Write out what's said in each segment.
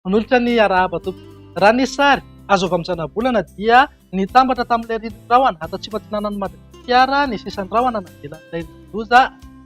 Manolotra ny arahaba tompoko. Raha ny sary azo avy amin'ny zanabolana dia nitambatra tamin'ilay rindrin'ny rahona ato atsimo atsinanan'i Madagasikara ny sisan'ny rahona navelan'ilay loza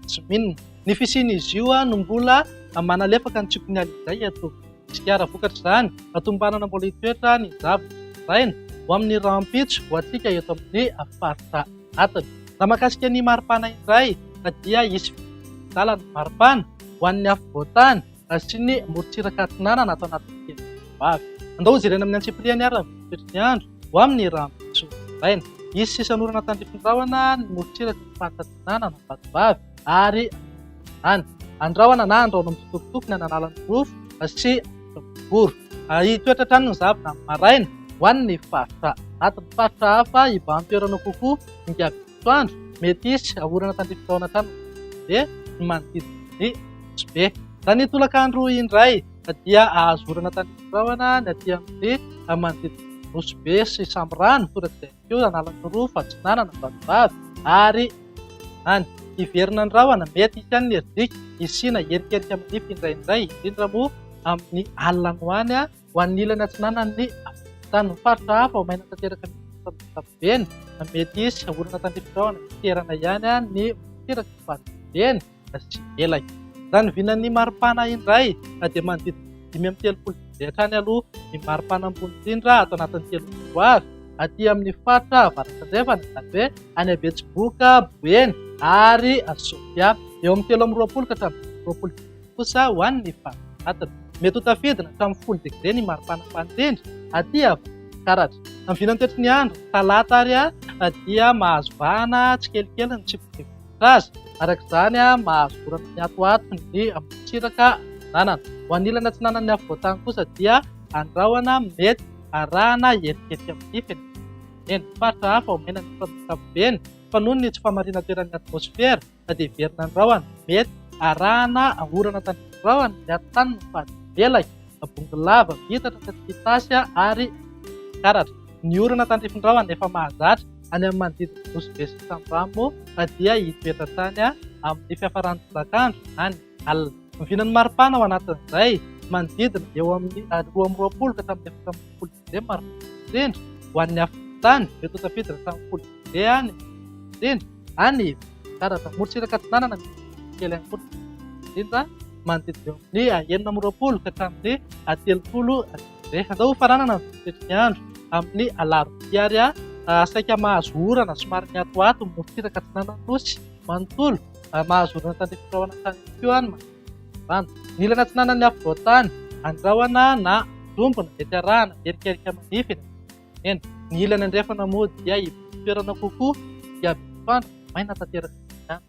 Jimin. Ny fisian'izy io no mbola manalefaka ny tsiokin'ny alina indray eto. Sigara vokatry izany, atombanana mbola hitoetra ny zavona nozaraina ho amin'ny rahampitso ho antsika eto amin'ny faritra atiny. Raha mahakasika ny maripana indray dia hisy fitsikilan-dalana maripana ho an'ny afovoan-tany sy ny morontsiraka atsinanana ato anatin'ny herinandro ho avy. Andao ho jerena amin'ny antsipiriany ary ny toetry ny andro ho amin'ny rahampitso maraina. Hisy sisan'orana tandrify ny rahona ny morontsiraky ny faritra atsinanana vatovavy. ary any andrahona na andrahona mitsitokotoko ny ananala ny rofo sy voro. Hitoetra hatrany ny zavona amin'ny maraina ho an'ny ny faritra anaty ny faritra hafa hibahan-toerana kokoa hingà bitoandro mety hisy orana tandrify taona hatrany be ny manodidina ny Nosy-be. Raha ny tolaka andro indray dia hahazo orana tandrify rahona ny aty amin'ny manodidina ny Nosy-be sy Samirano torak'izay. Fidio Analan'ny Roa, Fadronanana, Vatovavy, ary Andiany. Hiverina ny rahona, mety hisy ihany ny herijika, hisiana herikerika manify indraindray, indrindra moa amin'ny alina any ho any, ho an'ny ilany atsinanan'ny afovoan-tany. Ny faritra hafa ho maina tanteraka mety hisy fandrosoana ankapobeny, mety hisy orana tandrifin-drahona miterana ihany ny morontsiraka sy ny faribolibeny. sy elaky. Raha ny vinan'ny maripana indray dia manodidina dimy amby telopolo digré hatrany aloha ny maripana ambony indrindra ato anatin'ny telo febroary, aty amin'ny faritra Avaratrandrefana, izany hoe any Betsiboka, Boeny ary Sofia. Eo amin'ny telo amby roapolo ka hatramin'ny dimy amby roapolo digré kosa ho an'ny faritra atiny. Mety ho tafidina hatramin'ny folo degré ny maripana ambany indrindra aty Avaratrefana. Karatra. Amin'ny vinan'ny toetry ny andro, talata ary dia mahazo vahana tsikelikely ny tsiprotsipika. fototra aza. Araka izany, mahazo vorana mihatohato ny amoron-tsiraka ananana. Ho an'ny ilany atsinanan'ny afovoantany kosa dia any rahona mety arahana etikety amin'ny fenintany eny. Faritra hafa omena ny orana ankapobeny fa noho ny tsy fahamarinan-toeran'ny atmosfera na dia hiverina ny rahona, mety arahana orana tandrify. Rahona miato tany ny fady velaka, bongo lava, miitatra ka tsy misy tasy ary mikaratra. Ny orana tandrifin-drahona efa mahazatra any amin'ny manodidina ny Nosy be sy ny Sambramo dia hitoetra tany amin'ny fiafaran'ny tolakandro na ny alina. Ny vinan'ny maripana ao anatin'izay manodidina eo amin'ny roa amby roapolo ka hatramin'ny efatra ambin'ny folo degré ny maripana indrindra ho an'ny afovoan-tany, mety ho tafiditra hatramin'ny folo degré any ny maripana indrindra any avaratra. Morontsiraka atsinanana misy rivotra kely ihany koa no mety ho indrindra manodidina eo amin'ny enina amby roapolo ka hatramin'ny telopolo degré. Dia andao hofaranana ny fototry ny andro amin'ny alarobia ary aho saika mahazo orana somary mihatohato mimorontsiraka atsinanan'ny Nosy manontolo, mahazo orana tandrify rahona tany ihany koa aho ny manodidina ny rano. Ny ilany atsinanan'ny afovoan-tany, andrahona na anjombona dia tsy arahana erikerika manify eny anivon'ny nosy mena. Ny ilany andrefana moa dia hibodo toerana kokoa dia miantoandro maina tanteraka ny andro.